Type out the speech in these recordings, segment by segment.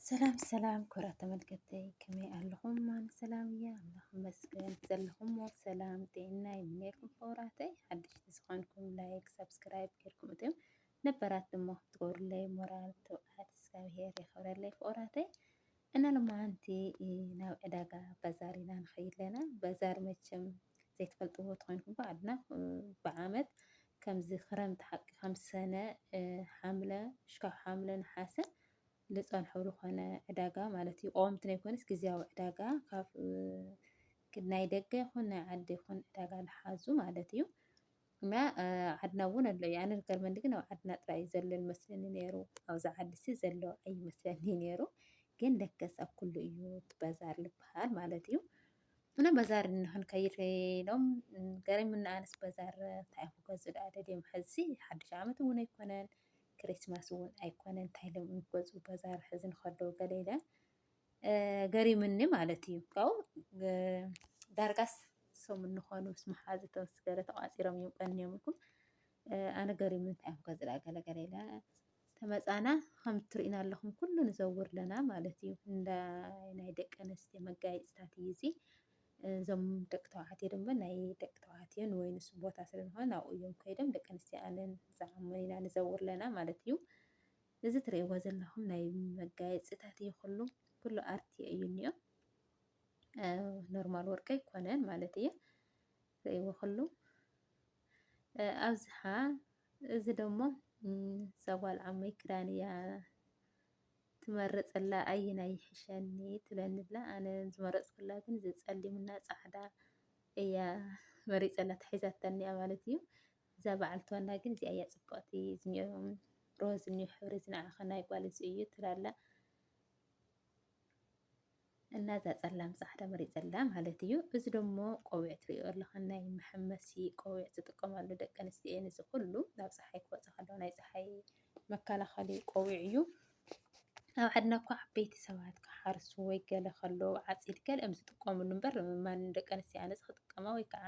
ሰላም ሰላም ክብራት ተመልከተይ ከመይ ኣለኹም? ማን ሰላም እያ ኣምላኽ ይመስገን። ዘለኹሞ ሰላም ጤና ይምነየልኩም ክቡራተይ። ሓደሽቲ ዝኾንኩም ላይክ ሰብስክራይብ ጌርኩም እትም ነበራት ድማ ክትገብሩለይ ሞራል ትብዓት እግዚኣብሄር የኽብረለይ ክቡራተይ። እና ሎማዓንቲ ናብ ዕዳጋ ባዛር ኢና ንኸይድ ኣለና። ባዛር መቸም ዘይትፈልጥዎ ተኾይንኩም እኳ ኣድና ብዓመት ከምዚ ክረምቲ ሓቂ ከም ሰነ ሓምለ ሽካብ ሓምለ ነሓሰ ዝፀንሑ ዝኾነ ዕዳጋ ማለት እዩ ቆምቲ ናይ ኮነስ ግዜያዊ ዕዳጋ ካብ ናይ ደገ ይኹን ናይ ዓዲ ይኹን ዕዳጋ ዝሓዙ ማለት እዩ። እና ዓድና እውን ኣሎ እዩ። ኣነ ዝገርመኒ ግን ኣብ ዓድና ጥራይ እዩ ዘሎ ዝመስለኒ ነይሩ፣ ኣብዚ ዓዲሲ ዘሎ ኣይመስለኒ ነይሩ። ግን ለከስ ኣብ ኩሉ እዩ እቲ ባዛር ዝበሃል ማለት እዩ። እና ባዛር ንክንከይድ ኢሎም ገሪሙና፣ ኣነስ ባዛር እንታይ ክገዝኡ ደኣ ደልዮም ሕዚ ሓዱሽ ዓመት እውን ኣይኮነን ክሪስማስ እውን ኣይኮነን እንታይ ኢሎም ክገዝኡ ባዛር ሕዚ ንከለዉ ገለ ኢለ ገሪምኒ ማለት እዩ ካብኡ ዳርጋስ ሰሙን ንኾኑ ምስ መሓዙቶም ስገረ ተቋፂሮም እዮም ቀንዮም ኢልኩም ኣነ ገሪሙ እንታይ እዮም ከዝላ ገለገለ ኢለ ተመፃና ከም እትርእዩና ኣለኹም ኩሉ ንዘውር ኣለና ማለት እዩ እንዳ ናይ ደቂ ኣንስትዮ መጋየፅታት እዩ እዚ እዞም ደቂ ተባዕትዮ ድማ ናይ ደቂ ተባዕትዮን ወይ ንሱ ቦታ ስለዝኾነ ናብኡ እዮም ከይዶም ደቂ ኣንስትዮ ኣነን ዝዓመና ንዘውር ኣለና ማለት እዩ እዚ ትርእይዎ ዘለኹም ናይ መጋየፂታት እዩ ኩሉ ኩሉ ኣርት እዩ እኒኦ ኖርማል ወርቂ ኣይኮነን ማለት እዩ ትርእይዎ ኩሉ ኣብዝሓ እዚ ደግሞ ሰጓል ዓመይ ክዳን እያ ትመርፅላ ኣየናይ ይሕሸኒ ትብለኒ ብላ ኣነ ዝመረፅኩላ ግን ዝፀሊምና ፃዕዳ እያ መሪፀላ ተሒዛተኒያ ማለት እዩ እዛ ባዓል ቶና ግን እዚኣ እያ ፅብቅቲ እዚኒኦ ሮዝ እኒኦ ሕብሪ እዚ ንዓኪ ናይ ጋል እዚ እዩ ትብል ኣላ እና እዛ ፀላም ፃዕዳ መሪፀላ ማለት እዩ። እዚ ደሞ ቆቢዕ ትሪኦ ኣለካ ናይ መሐመሲ ቆቢዕ ዝጥቀማሉ ደቂ ኣንስትዮ እየን። እዚ ኩሉ ናብ ፀሓይ ክወፃ ከለዋ ናይ ፀሓይ መከላኸሊ ቆቢዕ እዩ። ኣብ ዓድና እኳ ዓበይቲ ሰባት ክሓርሱ ወይ ገለ ከለዉ ዓፂድ ገለ እዮም ዝጥቀምሉ እምበር ማንም ደቂ ኣንስትዮ ኣነስ ክጥቀማ ወይ ከዓ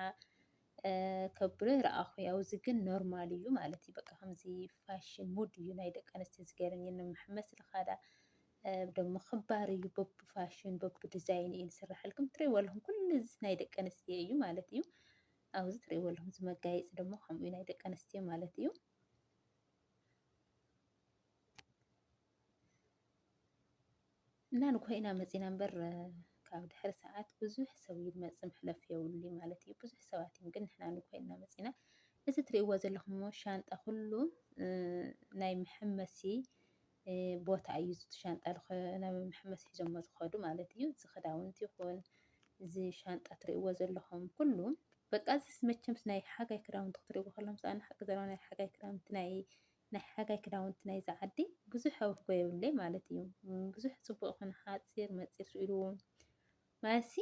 ከብሎ ይረኣኹ ያው እዚ ግን ኖርማል እዩ ማለት እዩ በቃ ከምዚ ፋሽን ሙድ እዩ ናይ ደቂ ኣንስትዮ ዝገርም እዩ ንመሐመስ ልኻዳ ደሞ ክባር እዩ በብ ፋሽን በብ ዲዛይን እዩ ዝስራሐልኩም ትሪእዎ ኣለኹም ኩሉ እዚ ናይ ደቂ ኣንስትዮ እዩ ማለት እዩ ኣብዚ ትሪእዎ ኣለኹም እዚ መጋየፂ ደሞ ከምኡ ናይ ደቂ ኣንስትዮ ማለት እዩ እና ንኮይና መፂና እምበር ካብ ድሕሪ ሰዓት ብዙሕ ሰብ እዩ ዝመፅእ መሕለፊ የብሉ ማለት እዩ። ብዙሕ ሰባት እዮም ግን ንሕና ንኮይና መፂና። እዚ ትሪእዎ ዘለኹም ሻንጣ ኩሉ ናይ መሐመሲ ቦታ እዩ። እዚ ሻንጣ ናብ መሐመሲ ሒዞሞ ዝኸዱ ማለት እዩ። እዚ ክዳውንቲ ይኹን እዚ ሻንጣ ትሪእዎ ዘለኹም ኩሉ በቃ እዚ መቸምስ ናይ ሓጋይ ክዳውንቲ ክትሪእዎ ከለኹም ሰኣን ሓቂ ዘረባ ናይ ሓጋይ ክዳውንቲ ናይ ናይ ሓጋይ ክዳውንቲ ናይዛ ዓዲ ብዙሕ ኣውህቦ የብለይ ማለት እዩ። ብዙሕ ጽቡቅ ይኹን ሓጺር መጺር ስኢሉ ማለትሲ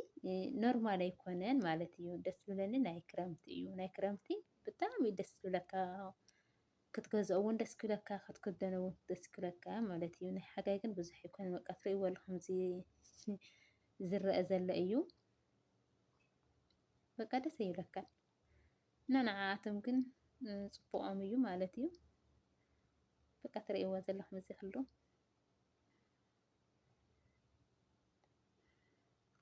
ኖርማል ኣይኮነን ማለት እዩ። ደስ ዝብለኒ ናይ ክረምቲ እዩ። ናይ ክረምቲ ብጣዕሚ እዩ ደስ ዝብለካ ክትገዝኦ እውን ደስ ክብለካ ክትክደኖ እውን ደስ ክብለካ ማለት እዩ። ናይ ሓጋይ ግን ብዙሕ ኣይኮነን በቃ ትርእይዎ ኣለኹም ዝረአ ዘሎ እዩ። በቃ ደስ ይብለካ። እና ንዓኣቶም ግን ጽቡቆም እዩ ማለት እዩ በቃ ትርእይዎ ዘለኹም እዚ ኩሉ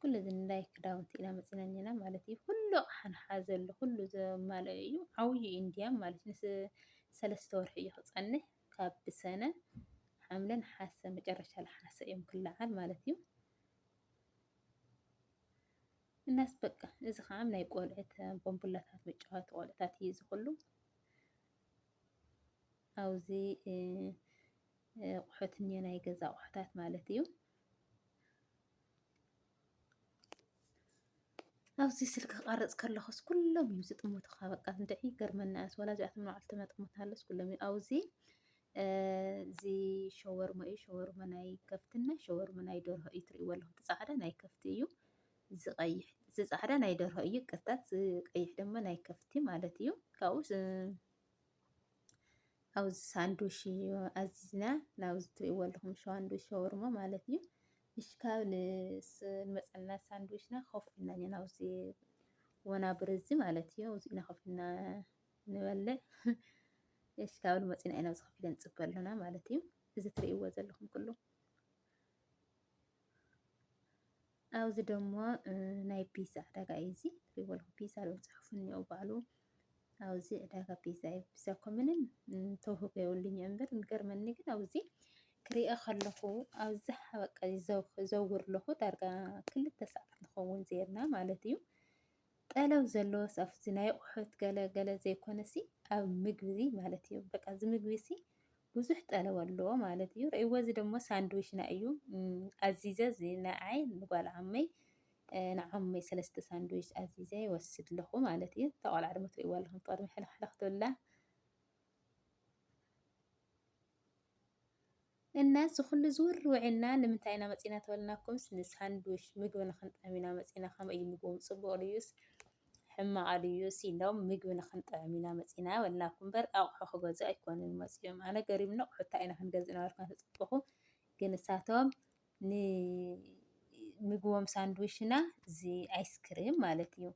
ኩሉ እዚ ንላይ ክዳውንቲ ኢና መፂና እኒና ማለት እዩ ኩሉ ኣቕሓ ዘሎ ኩሉ ዘማልኦ እዩ ዓብዩ እዩ እንዲያም ማለት ምስ ሰለስተ ወርሒ እዩ ክፀንሕ ካብ ብሰነ ሓምለ ነሓሰ መጨረሻ ለሓሰ እዮም ክለዓል ማለት እዩ እናስ በቃ እዚ ከዓ ናይ ቆልዕት ቦምቡላታት መጫወቲ ቆልዕታት እዩ እዚ ኩሉ ኣብዚ ኣቑሑት እኒ ናይ ገዛ ኣቑሑታት ማለት እዩ። ኣብዚ ስልኪ ክቐርፅ ከለኹስ ኩሎም እዮም ዝጥምቱኻ በቃ እንድዒ ይገርመና እያስ ወላ እዚኣቶም ንባዕልቶም ኣጥምታለስ ኩሎም እዮም ኣብዚ እዚ ሸወርሞ እዩ ሸወርሞ ናይ ከፍቲ እና ሸወርሞ ናይ ደርሆ እዩ ትሪእዎ ኣለኹም። እቲ ፃዕዳ ናይ ከፍቲ እዩ። እዚ ቀይሕ እዚ ፃዕዳ ናይ ደርሆ እዩ ይቅርታ። እዚ ቀይሕ ድማ ናይ ከፍቲ ማለት እዩ። ካብኡ ኣብ ሳንዱሽ እዩ ኣዚዝና ናብዚ ትሪእዎ ኣለኹም ሸዋንዱሽ ሸወርሞ ማለት እዩ። እሺ ካብ ንመፀና ሳንዱሽና ኮፍ ኢልና ናብዚ ወናብር እዚ ማለት እዩ። እዚ ኢና ኮፍ ኢልና ንበለ እሺ ካብ ንመፂና ኢና ኣብዚ ከፊለ ንፅበ ኣለና ማለት እዩ እዚ ትርእይዎ ዘለኹም ኩሉ ኣብዚ ደሞ ናይ ፒዛ ዕዳጋ እዩ እዚ ትርእይዎ ኣለኹም ፒዛ ዝብል ፅሑፍ እኒኦ ባዕሉ ኣብዚ ዕዳጋ ፒዛ እዩ ፒዛ እኮ ምንም ተውህቦ የብሉኝ እምበር ዝገርመኒ ግን ኣብዚ ክሪኦ ከለኹ ኣብዚ በቃ ዘውር ኣለኹ ዳርጋ ክልተ ሰዓት ንኸውን ዜርና ማለት እዩ ጠለብ ዘለዎስ ኣብቲ ናይ ኣቑሑት ገለ ገለ ዘይኮነሲ ኣብ ምግቢዚ ማለት እዩ። በቃ እዚ ምግቢሲ ብዙሕ ጠለብ ኣለዎ ማለት እዩ። ርእይዎ እዚ ደሞ ሳንድዊችና እዩ ኣዚዘ እዚ ንዓይ ንጓል ዓመይ ንዓመይ ሰለስተ ሳንድዊች ኣዚዘ ይወስድ ኣለኹ ማለት እዩ። እታ ቆልዓ ድማ ትርእይዋ ኣለኹም ቅድሚ ሕልኽሕልኽ ትብላ። እና እዚ ኩሉ ዝውር ውዒልና ንምንታይ ኢና መፂና ተበልናኩምስ ንሳንዱሽ ምግቢ ንክንጥዕም ኢና መፂና ከመይ እዩ ምግቦም ፅቡቅ ድዩስ ሕማቅ ድዩስ ኢሎም ምግቢ ንክንጥዕም ኢና መፂና በልናኩም እምበር ኣቁሑ ክገዝኡ ኣይኮኑን መፂኦም ኣነ ገሪሙኒ ኣቁሑ እንታይ ኢና ክንገዝእ ነበርኩም ተፀበኩ ግን ንሳቶም ንምግቦም ሳንድዊሽ እና እዚ ኣይስክሪም ማለት እዩ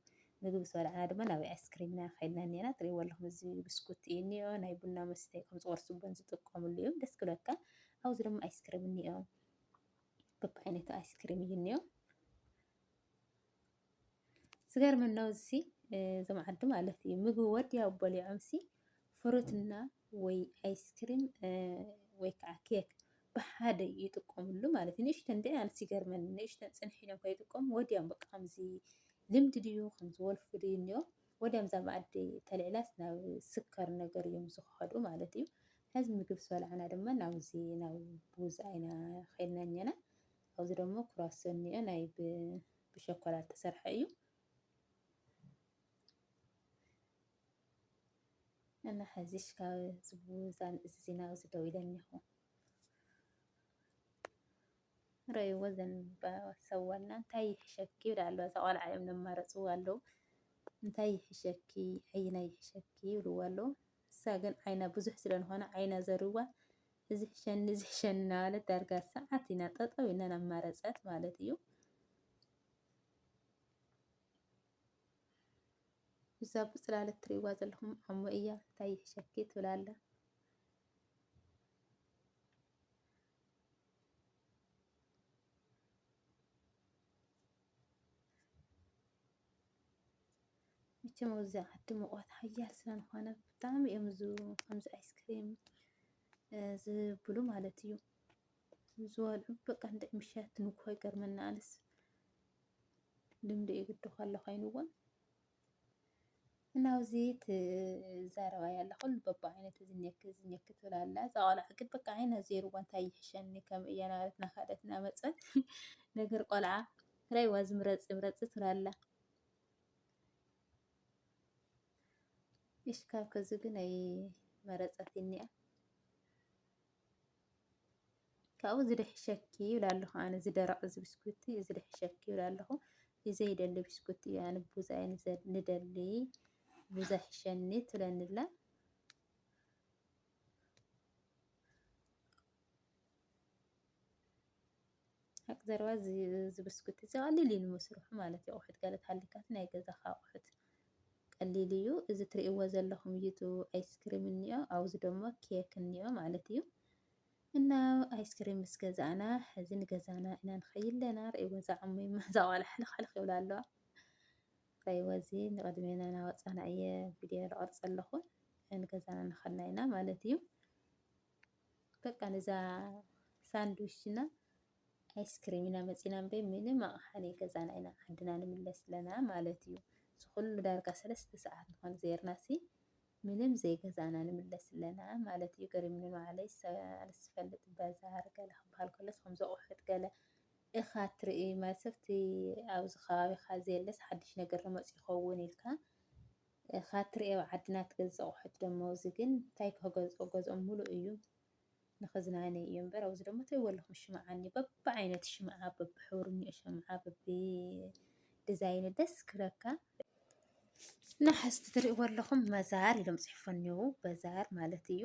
ምግቢ ዝበልዕና ድማ ናብ ኣይስክሪም ኢና ከይድና እኒና ትሪእዎ ኣለኹም እዚ ብስኩት እዩ እኒኦ ናይ ቡና መስተ ከም ዝቆርሱቦን ዝጥቀምሉ እዮም ደስ ክብለካ ኣብዚ ድማ ኣይስክሪም እኒኦ በብዓይነቱ ኣይስክሪም እዩ እኒኦ ዝገርመኒ ነው እዚ እዞም ዓዲ ማለት እዩ ምግቢ ወዲያው በሊዖም ሲ ፍሩትና ወይ ኣይስክሪም ወይ ከዓ ኬክ ብሓደ ይጥቀምሉ ማለት እዩ። ንእሽተን ድዒ ኣንስ ይገርመኒ ንእሽተን ፅንሕ ኢሎም ከይጥቀሙ ወዲያም በቃ ከምዚ ልምዲ ድዩ ከምዚ ወልፊ ድዩ እኒኦ ወዲያም እዛ መኣዲ ተልዕላስ ናብ ስከር ነገር እዮም ዝኸዱ ማለት እዩ። ሕዚ ምግብ ሰልዓና ድማ ናብዚ ናብ ቡዝ ኣይና ኸይድና እኛና ኣብዚ ደሞ ኩራሶ እኒኦ ናይ ብሸኮላ ዝተሰርሐ እዩ እና ሕዚሽ ካብ ዝብዛን እዚ ናብዚ ደው ኢለ እኒኹ ረይዎ ዘንባሰዋና እንታይ ይሕሸኪ ይብል ኣሎ እዛ ቆልዓ እዮም ነማረፅዎ ኣለዉ እንታይ ይሕሸኪ ዓይና ይሕሸኪ ይብልዎ ኣለዉ እሳ ግን ዓይና ብዙሕ ስለንኾነ ዓይና ዘርዋ እዚ ሕሸኒ እዚ ሕሸኒ እናበለት ዳርጋ ሰዓት ኢና ጠጠው ኢልና እናማረፀት ማለት እዩ። እዛ ብፅላል እትሪእዋ ዘለኹም ዓሞ እያ እንታይ ይሕሸኪ ትብል ኣላ። መቸም ኣብዚ ዓዲ ሙቐት ሓያል ስለዝኾነ ብጣዕሚ እዮም ከምዚ ኣይስክሬም ዝብሉ ማለት እዩ ዝበልዑ በቃ እንድዒ ምሸት ንግሆ ይገርመኒ ኣነስ ልምዲ እዩ ግዲ ከሎ ኮይኑዎም እና ኣብዚ ትዛረባ ያላ ኩሉ በብዓይነቱ ዝኔክ ዝኔክ ትብል ኣላ እዛ ቆልዓ ግን በቃ ዓይና ዜርዋ እንታይ ይሕሸኒ ከም እያ ናበለት ናኸደት ናመፀት ነገር ቆልዓ ራይዋ ዝምረፅ ምረፅ ትብል ኣላ እሽ ካብ ከዚ ግን ኣይ መረጸትኒ እያ ካብኡ ዝደሕሸኪ ይብል ኣለኹ ኣነ ዝደረቕ እዚ ብስኩቲ እዚ ደሕሸኪ ይብል ኣለኹ ብዘይደሊ ብስኩቲ እዩ ኣነ ቡዛ እየ ንደሊ ቡዛ ሕሸኒ ትብለኒላ ሓቂ ዘረባ እዚ ብስኩቲ እዚ ቀሊል እዩ ንምስርሑ ማለት እዩ ኣቁሑት ገለ ተሃሊካ እቲ ናይ ገዛካ ኣቁሑት ቀሊል እዩ እዚ ትሪእዎ ዘለኩም እዩ እቲ ኣይስክሪም እኒኦ ኣብዚ ደሞ ኬክ እኒኦ ማለት እዩ እና ኣይስክሪም ምስ ገዛእና እዚ ንገዛና ኢና ንከይድ ኣለና ርእይዎ እዛ ዕሙማ እዛ ቆልዓ ሕልክሕልክ ይብላ ኣለዋ ርእይዎ እዚ ንቅድሜና ናወፃና እየ ቪድዮ ዝቀርፅ ዘለኩ ንገዛና እናከድና ኢና ማለት እዩ። በቃ ነዛ ሳንድዊች እና ኣይስክሪም ኢና መፂና እምበይ ምንም ኣቕሓ ናይ ገዛና ኢና ዓድና ንምለስ ኣለና ማለት እዩ። ዝኩሉ ዳርጋ ሰለስተ ሰዓት ንኾን ዘይርናሲ ምንም ዘይገዛና ንምለስ ኣለና ማለት እዩ። ገሪምኒ ንባዕለይ ኣነስ ዝፈልጥ በዛር ገለ ክበሃል ከሎ ከምዚ ኣቑሑት ገለ እኻ ትርኢ ማለት ሰብቲ ኣብዚ ከባቢኻ ዘየለስ ሓድሽ ነገር መፂኡ ይኸውን ኢልካ እካ ትሪኢ ኣብ ዓድና ትገዝእ ኣቁሑት ደሞ ኣውዚ ግን ታይ ክህገዝኦ ገዝኦም ሙሉእ እዩ ንክዝናነይ እዩ እበር ኣውዚ ደሞ ታይ ወለኩም ሽምዓ እኒ በቢ ዓይነት ሽምዓ በቢ ሕብሩ እኒኦ ሸምዓ በቢ ድዛይኑ ደስ ክብለካ እና ሕዝቲ ትሪእዎ ኣለኹም መዛር ኢሎም ፅሒፎ እኒው በዛር ማለት እዩ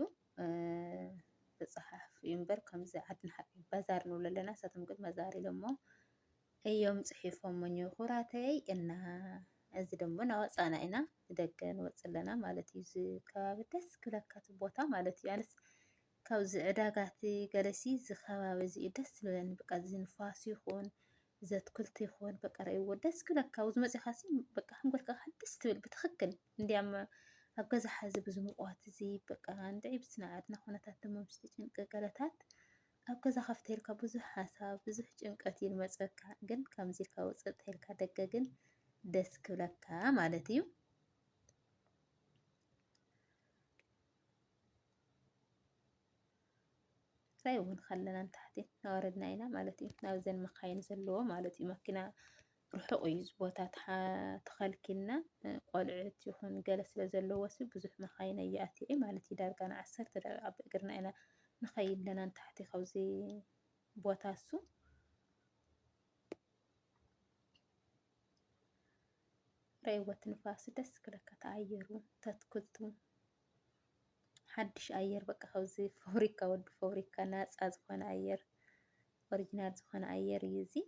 ተፃሓፍ እዩ እምበር ከምዚ ዓድና ሓቂ ባዛር ንብሎ ኣለና ንሳቶም ግን መዛር ኢሎሞ እዮም ፅሒፎሞ ኩራተይ እና እዚ ደሞ ናወፃና ኢና ንደገ ንወፅእ ኣለና ማለት እዩ። እዚ ከባቢ ደስ ክብለካ እቲ ቦታ ማለት እዩ። ኣነስ ካብዚ ዕዳጋቲ ገለሲ እዚ ከባቢ እዚ እዩ ደስ ዝብለኒ በቃ እዚ ንፋስ ይኹን እዚ ኣትክልቲ ይኹን በቃ ረእይዎ ደስ ክብለካ ኣብዚ መፂእኻ ሲ በቃ ሓንጎልካ ደስ ትብል ብትኽክል እንዲያም ኣብ ገዛ ሓዚ ብዙ ምቑዋት እዚ በቃ እንድዒ ብስነ ዓድና ኩነታት ደሞ ምስቲ ጭንቂ ገለታት ኣብ ገዛ ከፍተ ኢልካ ብዙሕ ሓሳብ ብዙሕ ጭንቀት እዩ ልመፀካ ግን ከምዚ ኢልካ ውፅእ ተልካ ደገ ግን ደስ ክብለካ ማለት እዩ። እንታይ እውን ከለና ንታሕቲ ናወረድና ኢና ማለት እዩ ናብዘን መካይን ዘለዎ ማለት እዩ መኪና ርሑቕ እዩ እዚ ቦታ ተኸልኪልና ቆልዑት ይኹን ገለ ስለ ዘለዎሲ ብዙሕ መኻይን ኣየኣትየ ማለት እዩ። ዳርጋ ንዓሰርተ ደቂቃ ብእግርና ኢና ንኸይድ ኣለና ንታሕቲ ካብዚ ቦታ እሱ ረይወት ንፋስ ደስ ክለካ ተኣየሩ ተትክልቱ ሓድሽ ኣየር በቃ ካብዚ ፋብሪካ ወዲ ፋብሪካ ናፃ ዝኾነ ኣየር ኦሪጂናል ዝኾነ ኣየር እዩ እዙይ።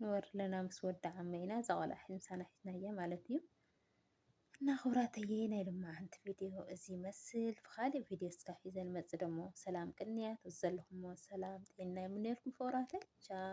ንበር ኣለና ምስ ወዲ ዓመይ ኢና እዛ ቆልዓ ሒዚ ምሳና ሒዝናያ ማለት እዩ። እና ክብራተየ ናይ ልማዓንቲ ቪድዮ እዚ ይመስል ብካሊእ ቪድዮ እስካ ሒዘ ንመፅእ ደሞ ሰላም ቅንያት ዘለኹሞ ሰላም ጤና ይምነየልኩም ፍቅራተይ ቻው።